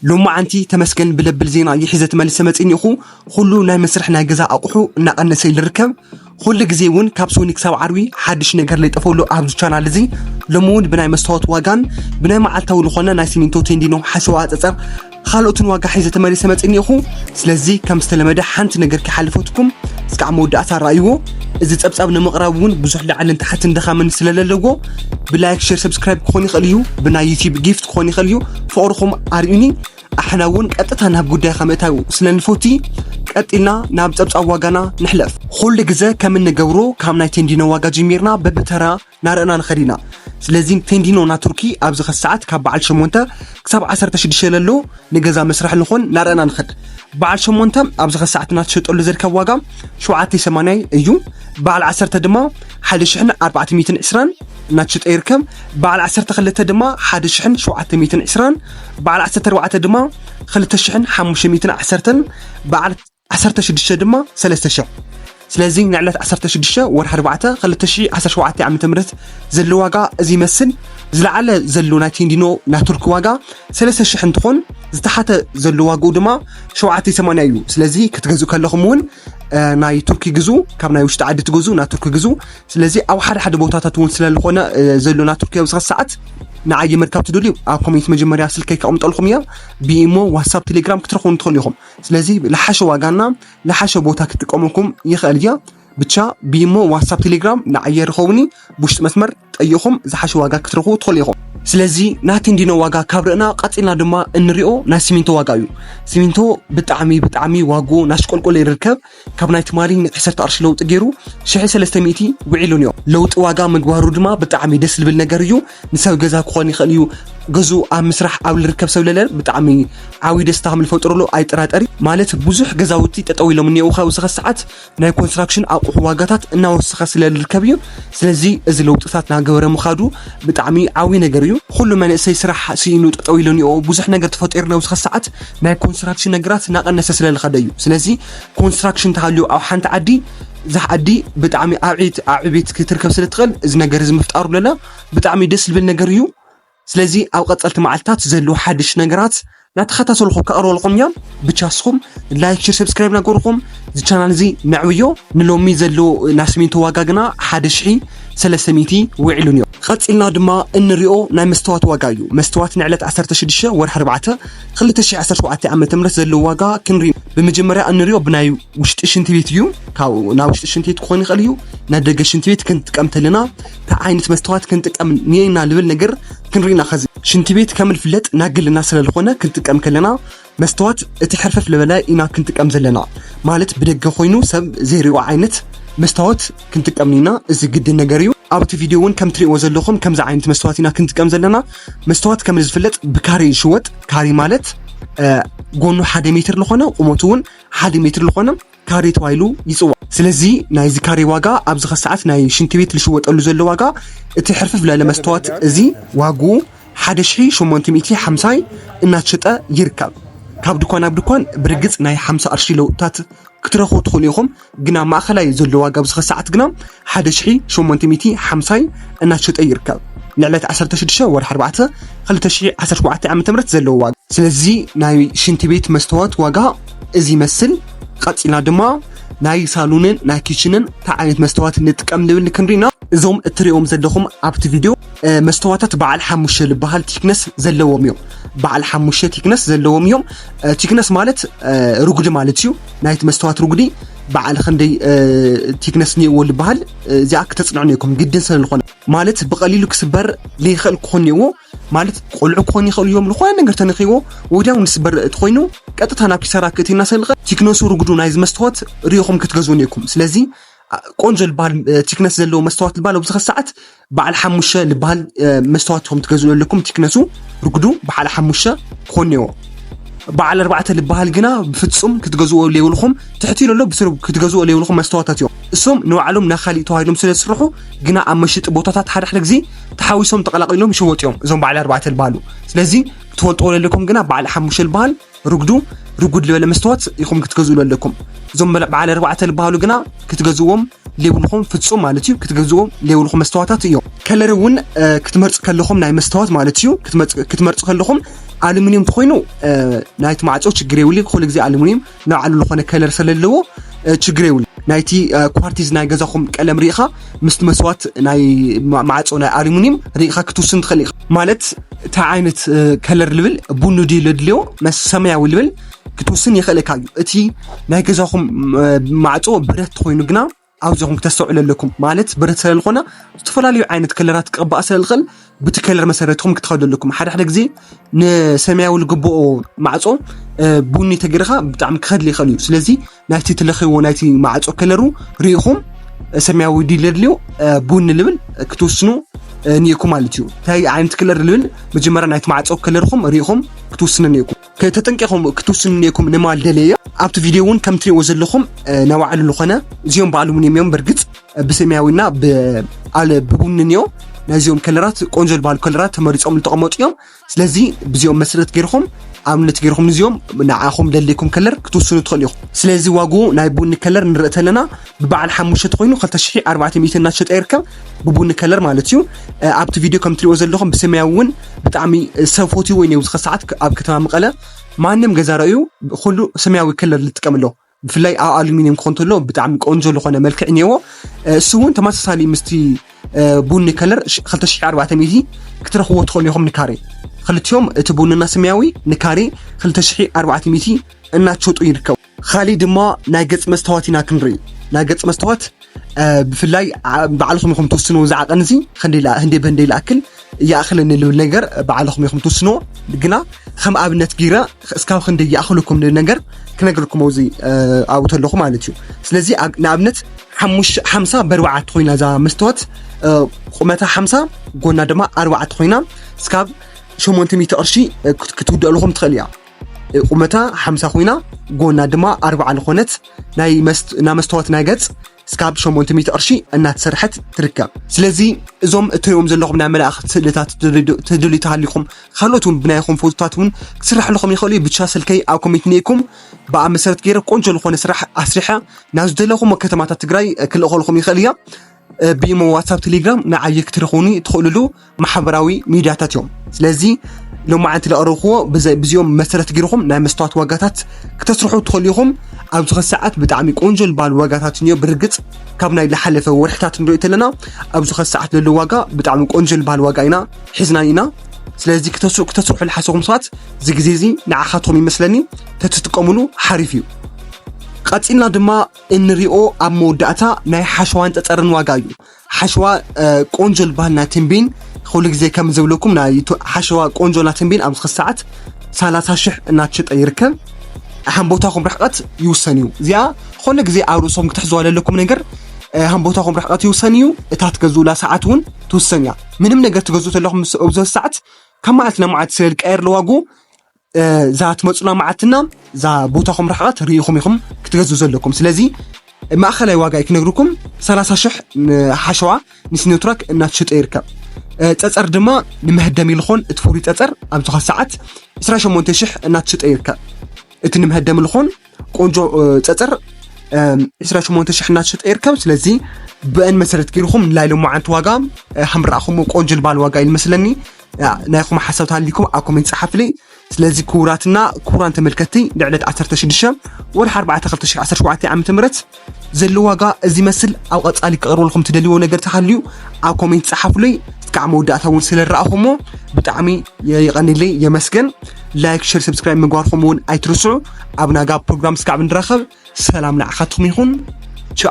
ሎማዓንቲ ተመስገን ብለብል ዜና ይሒዘ ተመልሰ መጺኒእኹ ኹሉ ናይ መስርሕ ናይ ገዛ ኣቁሑ እናቀነሰ ይልርከብ ኹሉ ግዜ እውን ካብ ሶኒ ክሳብ ዓርቢ ሓድሽ ነገር ለይጠፈሉ ኣብዚ ቻናል እዚ ሎሚ እውን ብናይ መስተዋት ዋጋን ብናይ መዓልታዊ ልኾነ ናይ ሲሚንቶ ቴንዲኖ ሓሸዋ ኣጸጸር ካልኦትን ዋጋ ሒዘ ተመልሰ መጺኒእኹ ስለዚ ከም ዝተለመደ ሓንቲ ነገር ከይሓለፈትኩም እስካዕ መወዳእታ ኣረኣይዎ እዚ ጸብጻብ ንምቕራብ እውን ብዙሕ ላዕልን ታሕትን ድኻምን ስለለለዎ ብላይክ ሼር ሰብስክራይብ ክኾን ይኽእል እዩ ብናይ ዩቲዩብ ጊፍት ክኾን ይኽእል እዩ ፍቕርኹም ኣርእዩኒ ኣሕና እውን ቀጥታ ናብ ጉዳይካ ምእታው ስለ ንፈቲ ቀጢልና ናብ ጸብጻብ ዋጋና ንሕለፍ ኹሉ ግዘ ከም እንገብሮ ካብ ናይ ቴንዲኖ ዋጋ ጀሚርና በብተራ ናርእና ንኸድ ኢና ስለዚ ቴንዲኖ ና ቱርኪ ኣብዚ ኸ ሰዓት ካብ በዓል 8 ክሳብ 16 ለሎ ንገዛ መስርሒ ንኾን ናርእና ንኸድ በዓል 8 ኣብዚ ኸ ሰዓት እናተሸጠሉ ዝርከብ ዋጋ 7 ሰማንያይ እዩ በዓል 1 ድማ ሓደ ሽሕን ኣርባዕተ ሚእትን ዕስራን እናተሸጠ ይርከብ። በዓል ዓሰርተ ክልተ ድማ ሓደ ሽሕን ሸውዓተ ሚእትን ዕስራን፣ በዓል ዓሰርተ ኣርባዕተ ድማ ክልተ ሽሕን ሓሙሽተ ሚእትን ዓሰርተን፣ በዓል ዓሰርተ ሽዱሽተ ድማ ሰለስተ ሽሕ። ስለዚ ንዕለት ዓሰርተ ሽዱሽተ ወርሒ ኣርባዕተ ክልተ ሽሕ ዓሰርተ ሸውዓተ ዓመተ ምህረት ዘሎ ዋጋ እዚ ይመስል። ዝለዓለ ዘሎ ናይ ቴንዲኖ ናይ ቱርኪ ዋጋ ሰለስተ ሽሕ እንትኾን ዝተሓተ ዘሎ ዋግኡ ድማ ሸውዓተ ሰማንያ እዩ። ስለዚ ክትገዝኡ ከለኹም እውን ናይ ቱርኪ ግዙ ካብ ናይ ውሽጢ ዓዲ ትገዙ ናይ ቱርኪ ግዙ ስለዚ ኣብ ሓደ ሓደ ቦታታት እውን ስለዝኾነ ዘሎ ናይ ቱርኪ ኣብዚ ሰዓት ንዓየ ምርካብ ትደልዩ ኣብ ኮሜንት መጀመርያ ስልከይ ከቕምጠልኩም እያ ብኢሞ ዋትሳፕ ቴሌግራም ክትረኽቡ ንትኽእሉ ኢኹም ስለዚ ዝሓሸ ዋጋና ዝሓሸ ቦታ ክትጥቀመኩም ይኽእል እያ ብቻ ብኢሞ ዋትሳፕ ቴሌግራም ንዓየ ርኸቡኒ ብውሽጢ መስመር ጠይቕኹም ዝሓሸ ዋጋ ክትረኽቡ ትኽእሉ ኢኹም። ስለዚ ናይ ቴንዲኖ ዋጋ ካብ ርእና ቀጺልና ድማ እንሪኦ ናይ ሲሚንቶ ዋጋ እዩ። ሲሚንቶ ብጣዕሚ ብጣዕሚ ዋግኡ ናሽቆልቆለ ይርከብ። ካብ ናይ ትማሊ ን ዓሰርተ ቅርሺ ለውጢ ገይሩ ሽሕ ሰለስተ ሚእቲ ውዒሉ እንዮ። ለውጢ ዋጋ ምግባሩ ድማ ብጣዕሚ ደስ ዝብል ነገር እዩ። ንሰብ ገዛ ክኾን ይኽእል እዩ። ገዝኡ ኣብ ምስራሕ ኣብ ዝርከብ ሰብ ለለ ብጣዕሚ ዓብዩ ደስታ ከም ዝፈጥረሉ ኣይጠራጠር እዩ። ማለት ብዙሕ ገዛውቲ ጠጠው ኢሎም እንየዉ ካብዚ ክሳዓት። ናይ ኮንስትራክሽን ኣቑሑ ዋጋታት እናወሰኸ ስለ ዝርከብ እዩ ስለዚ እዚ ለውጥታት ናገበረ ምኻዱ ብጣዕሚ ዓብዪ ነገር እዩ ኩሉ መንእሰይ ስራሕ ስኢኑ ጠጠው ኢሉ እኒኦ ብዙሕ ነገር ተፈጢሩ ኣብዚ ኸዚ ሰዓት ናይ ኮንስትራክሽን ነገራት እናቐነሰ ስለ ዝኸደ እዩ ስለዚ ኮንስትራክሽን ተሃልዩ ኣብ ሓንቲ ዓዲ እዛ ዓዲ ብጣዕሚ ኣብ ዕቤት ኣብ ዕቤት ክትርከብ ስለ እትኽእል እዚ ነገር እዚ ምፍጣሩ ለለ ብጣዕሚ ደስ ዝብል ነገር እዩ ስለዚ ኣብ ቀጸልቲ መዓልትታት ዘለዉ ሓድሽ ነገራት ናተኸታተልኹ ከቕርበልኹም እዮም ብቻ ስኹም ላይክ ሽር ሰብስክራይብ ናገርኹም እዚ ቻናል እዚ ነዕብዮ ንሎሚ ዘሎ ናይ ስሚንቶ ዋጋ ግና ሓደ ሽሒ ሰለስተ ሚእቲ ውዒሉን እዮ ቐጺልና ድማ እንሪኦ ናይ መስተዋት ዋጋ እዩ መስተዋት ንዕለት 16 ወርሒ 4 2017 ዓ ም ዘለዎ ዋጋ ክንርኢ ብመጀመርያ እንሪኦ ብናይ ውሽጢ ሽንቲ ቤት እዩ ካብ ናይ ውሽጢ ሽንቲ ቤት ክኾን ይኽእል እዩ ናይ ደገ ሽንቲ ቤት ክንጥቀም ተለና ታይ ዓይነት መስተዋት ክንጥቀም ኒና ልብል ነገር ክንሪኢ ኢና ከዚ ሽንቲ ቤት ከም ልፍለጥ ናይ ግልና ስለ ልኾነ ክንጥቀም ከለና መስተዋት እቲ ሕርፈፍ ልበለ ኢና ክንጥቀም ዘለና ማለት ብደገ ኮይኑ ሰብ ዘይሪኦ ዓይነት መስተዋት ክንጥቀም ኒና እዚ ግድን ነገር እዩ ኣብ እቲ ቪድዮ እውን ከም ትሪእዎ ዘለኹም ከምዚ ዓይነት መስተዋት ኢና ክንጥቀም ዘለና መስተዋት ከም ዝፍለጥ ብካሬ ይሽወጥ ካሬ ማለት ጎኑ ሓደ ሜትር ልኾነ ቁመቱ እውን ሓደ ሜትር ልኾነ ካሬ ተባሂሉ ይፅዋዕ። ስለዚ ናይዚ ካሬ ዋጋ ኣብዚ ከሰዓት ናይ ሽንቲ ቤት ልሽወጠሉ ዘሎ ዋጋ እቲ ሕርፍፍ ላለ መስተዋት እዚ ዋግኡ ሓደ ሽሒ ሸሞንተ ሚእቲ ሓምሳይ እናተሸጠ ይርከብ። ካብ ድኳን ናብ ድኳን ብርግፅ ናይ ሓምሳ ቅርሺ ለውጥታት ክትረኽቡ ትኽእሉ ኢኹም፣ ግን ኣብ ማእኸላይ ዘሎ ዋጋ ኣብዚ ከሰዓት ግና ሓደ ሽሒ ሸሞንተ ሚእቲ ሓምሳይ እናተሸጠ ይርከብ። ንዕለት ዓሰርተ ሽዱሽተ ወርሒ ኣርባዕተ ክልተ ሽሒ ዓሰርተ ሸውዓተ ዓመተ ምህረት ዘለዎ ዋጋ። ስለዚ ናይ ሽንቲ ቤት መስተዋት ዋጋ እዚ ይመስል። ቐጺልና ድማ ናይ ሳሉንን ናይ ኪችንን እንታይ ዓይነት መስተዋት ንጥቀም ንብል ክንሪ ኢና። እዞም እትሪኦም ዘለኹም ኣብቲ ቪድዮ መስተዋታት በዓል ሓሙሽተ ዝበሃል ቲክነስ ዘለዎም እዮም። በዓል ሓሙሽተ ቲክነስ ዘለዎም እዮም። ቲክነስ ማለት ርጉዲ ማለት እዩ። ናይቲ መስተዋት ርጉዲ በዓል ክንደይ ቲክነስ እኒኦዎ ዝበሃል እዚኣ ክተፅንዑ ነይኩም ግድን ስለ ዝኾነ ማለት ብቐሊሉ ክስበር ዘይኽእል ክኾን እኒኦዎ ማለት ቆልዑ ክኾኑ ይኽእሉ እዮም ዝኾነ ነገር ተነኺዎ ወዲያው ንስበር እቲ ኮይኑ ቀጥታ ናብ ኪሳራ ክእቲና ሰልቐ ቲክነሱ ርጉዱ ናይ ዝመስተዋት ርኢኹም ክትገዝኡ ነይኩም ስለዚ ቆንጆ ዝበሃል ቲክነስ ዘለዎ መስተዋት ዝበሃል ኣብዚ ሰዓት በዓል ሓሙሽተ ልበሃል መስተዋት ከም ትገዝኡ ኣለኩም ቲክነሱ ርጉዱ በዓል ሓሙሽተ ክኾን ኔዎ በዓል ኣርባዕተ ልበሃል ግና ብፍጹም ክትገዝዎ ለይብልኹም ትሕቲ ለሎ ብስሩ ክትገዝዎ ለይብልኹም መስተዋታት እዮም እሶም ንባዕሎም ናካሊእ ተዋሂዶም ስለ ዝስርሑ ግና ኣብ መሸጢ ቦታታት ሓደ ሓደ ግዜ ተሓዊሶም ተቐላቒሎም ይሸወጡ እዮም እዞም በዓል ኣርባዕተ ልበሃሉ ስለዚ ክትፈልጥዎ ለለኩም ግና በዓል ሓሙሽተ ልበሃል ርጉዱ ርጉድ ልበለ መስተዋት ኢኹም ክትገዝኡ ዘለኩም እዞም በዓል ኣርባዕተ ዝበሃሉ ግና ክትገዝዎም ሌብልኹም ፍፁም ማለት እዩ ክትገዝዎም ሌብልኹም መስተዋታት እዮም ከለር እውን ክትመርፁ ከለኹም ናይ መስተዋት ማለት እዩ ክትመርፁ ከለኹም ኣሉሚኒየም ተኮይኑ ናይቲ ማዕፆ ችግር የብሉ ኩሉ ግዜ ኣሉሚኒየም ንባዕሉ ዝኾነ ከለር ስለለዎ ችግር የብሉ ናይቲ ኳርቲዝ ናይ ገዛኹም ቀለም ርኢኻ ምስቲ መስዋት ናይ ማዕፆ ናይ ኣሉሚኒየም ሪኢኻ ክትውስን ትኽእል ኢኻ ማለት እንታይ ዓይነት ከለር ልብል ቡኒ ድዩ ለድልዮ መስ ሰማያዊ ልብል ክትውስን የኽእለካ እዩ እቲ ናይ ገዛኹም ማዕፆ ብረት ኮይኑ ግና ኣብዚኹም ክተስተውዕሉ ኣለኩም ማለት ብረት ስለ ዝኾነ ዝተፈላለዩ ዓይነት ከለራት ክቕባእ ስለ ዝኽእል ብቲ ከለር መሰረትኩም ክትኸዱ ኣለኩም ሓደ ሓደ ግዜ ንሰማያዊ ዝግብኦ ማዕፆ ቡኒ ተገይርካ ብጣዕሚ ክኸድሊ ይኽእል እዩ ስለዚ ናይቲ ትለኽይዎ ናይቲ ማዕፆ ከለሩ ርኢኹም ሰማያዊ ዲል ለድልዮ ቡን ልብል ክትውስኑ ኒኢኩም ማለት እዩ እንታይ ዓይነት ክለር ልብል መጀመርያ ናይቲ ማዕፀው ከለርኹም ርኢኹም ክትውስኑ ኒኢኩም ተጠንቂኹም ክትውስኑ ኒኢኩም ንማል ደለየ ኣብቲ ቪድዮ እውን ከም ትሪእዎ ዘለኹም ናይ ባዕሉ ዝኾነ እዚኦም ባዕሉምን እዮም እዮም በርግፅ ብሰማያዊና ብቡንን እዮ ናይዚኦም ከለራት ቆንጆ ዝበሃሉ ከለራት ተመሪፆም ዝተቐመጡ እዮም ስለዚ ብዚኦም መስረት ገይርኹም ኣብነት ገይርኹም ንዚኦም ንዓኹም ደልይኩም ከለር ክትውስኑ ትኽእሉ ኢኹም ስለዚ ዋግኡ ናይ ቡኒ ከለር ንርኢ ተለና ብበዓል ሓሙሽተ ኮይኑ 2400 እናተሸጠ ይርከብ ብቡኒ ከለር ማለት እዩ ኣብቲ ቪድዮ ከም ትሪእዎ ዘለኹም ብሰማያዊ እውን ብጣዕሚ ሰብ ፈትዎ እዩ ኣብዚ ሰዓት ኣብ ከተማ መቐለ ማንም ገዛ ርእዩ ኩሉ ሰማያዊ ከለር ዝጥቀም ኣሎ ብፍላይ ኣብ ኣሉሚኒየም ክኾን ተሎ ብጣዕሚ ቆንጆ ዝኾነ መልክዕ እኒአዎ እሱ እውን ተመሳሳሊ ምስቲ ቡኒ ከለር 2400 ክትረኽብዎ ትኽእሉ ኢኹም ንካሬ ክልቲኦም እቲ ቡንና ሰማያዊ ንካሬ 2400 እናትሸጡ ይርከቡ ካሊእ ድማ ናይ ገፅ መስተዋት ኢና ክንርኢ ናይ ገፅ መስተዋት ብፍላይ ባዕልኹም ኢኹም ትውስንዎ እዚ ዓቐን እዚ ህንደይ ብህንደይ ዝኣክል ይኣኽለኒ ልብል ነገር ባዕልኹም ኢኹም ትውስንዎ ግና ከም ኣብነት ጌረ እስካብ ክንደይ ይኣኽለኩም ልብል ነገር ክነግርኩም ኣብዚ ኣብኡ ተለኹ ማለት እዩ ስለዚ ንኣብነት ሓምሳ በርባዓት ኮይና እዛ መስተዋት ቁመታ ሓምሳ ጎና ድማ ኣርባዓት ኮይና እስካብ ሸሞንተ ሚእቲ ቅርሺ ክትውድኣልኹም ትኽእል እያ ቁመታ ሓምሳ ኮይና ጎና ድማ ኣርባዓ ዝኾነት ናይ መስተዋት ናይ ገጽ ስካብ 800 ቅርሺ እናተሰርሐት ትርከብ ስለዚ እዞም እትሪኦም ዘለኹም ናይ መላእኽቲ ስእልታት ትድልዩ ተሃሊኹም ካልኦት እውን ብናይኹም ፎቶታት እውን ክስራሕልኹም ይኽእሉ እዩ ብቻ ስልከይ ኣብ ኮሜንት ነይኩም ብኣ መሰረት ገይረ ቆንጆ ዝኾነ ስራሕ ኣስሪሐ ናብ ዝደለኹም ከተማታት ትግራይ ክልእኸልኹም ይኽእል እያ ብኢሞ ዋትሳፕ ቴሌግራም ንዓይ ክትረኽቡኒ ትኽእልሉ ማሕበራዊ ሚድያታት እዮም ስለዚ ሎማዓንቲ ዘቕረብክዎ ብዚኦም መሰረት ገይርኹም ናይ መስተዋት ዋጋታት ክተስርሑ ትኽእሉ ኢኹም ኣብዚ ኸዚ ሰዓት ብጣዕሚ ቆንጆ ዝበሃል ዋጋታት እዮ ብርግፅ ካብ ናይ ዝሓለፈ ወርሕታት ንሪኦ ተለና ኣብዚ ኸዚ ሰዓት ዘሎ ዋጋ ብጣዕሚ ቆንጆ ዝበሃል ዋጋ ኢና ሒዝና ኢና ስለዚ ክተስርሑ ዝሓሰኹም ሰባት እዚ ግዜ እዚ ንዓኻትኩም ይመስለኒ ተትጥቀምሉ ሓሪፍ እዩ ቀፂልና ድማ እንሪኦ ኣብ መወዳእታ ናይ ሓሸዋን ፀፀርን ዋጋ እዩ። ሓሸዋ ቆንጆ ዝበሃል ናይ ትንቢን ኩሉ ግዜ ከም ዝብለኩም ናይ ሓሸዋ ቆንጆ ናይ ትንቢን ኣብዚ ክስ ሰዓት ሰላሳ ሽሕ እናተሸጠ ይርከብ። ሃምቦታኹም ርሕቐት ይውሰን እዩ። እዚኣ ዝኾነ ግዜ ኣብ ርእሶም ክትሕዝዋ ዘለኩም ነገር ሃምቦታኹም ርሕቐት ይውሰን እዩ። እታ ትገዝኡላ ሰዓት እውን ትውሰን እያ። ምንም ነገር ትገዝኡ ዘለኹም ምስ ኣብዚ ሰዓት ካብ መዓልቲ ናብ መዓልቲ ስለ ዝቀየር ለዋጉ እዛ ትመፁና መዓልትና እዛ ቦታኹም ርሕቐት ርኢኹም ኢኹም ክትገዝኡ ዘለኩም ስለዚ ማእኸላይ ዋጋ እዩ ክነግርኩም 30 ሽሕ ሓሸዋ ንሲኖትራክ እናተሸጠ ይርከብ ፀፀር ድማ ንመህደሚ ልኾን እቲ ፍሩይ ፀፀር ኣብ ዝኾ ሰዓት 28 ሽሕ እናተሸጠ ይርከብ እቲ ንመህደሚ ልኾን ቆንጆ ፀፅር 28 ሽሕ እናተሸጠ ይርከብ ስለዚ ብአን መሰረት ገይርኩም ናይ ሎማዓንቲ ዋጋ ከም ረኣኹምዎ ቆንጆ ልባል ዋጋ እዩ ዝመስለኒ ናይኹም ሓሳብ ተሃሊኩም ኣብ ኮሜንት ፀሓፍሊ ስለዚ ክቡራትና ክቡራን ተመልከትቲ ልዕለት 16 ወርሒ 4 2017 ዓ ም ዘሎ ዋጋ እዚ መስል ኣብ ቐጻሊ ክቐርበልኩም ትደልይዎ ነገር ተሃልዩ ኣብ ኮሜንት ጸሓፉለይ እስካዕ መወዳእታ እውን ስለረኣኹሞ ብጣዕሚ የቐኒለይ የመስገን ላይክ ሸር ሰብስክራይብ ምግባርኩም እውን ኣይትርስዑ ኣብ ናጋ ፕሮግራም እስካዕ ብንራኸብ ሰላም ንዓኻትኩም ይኹን ቻው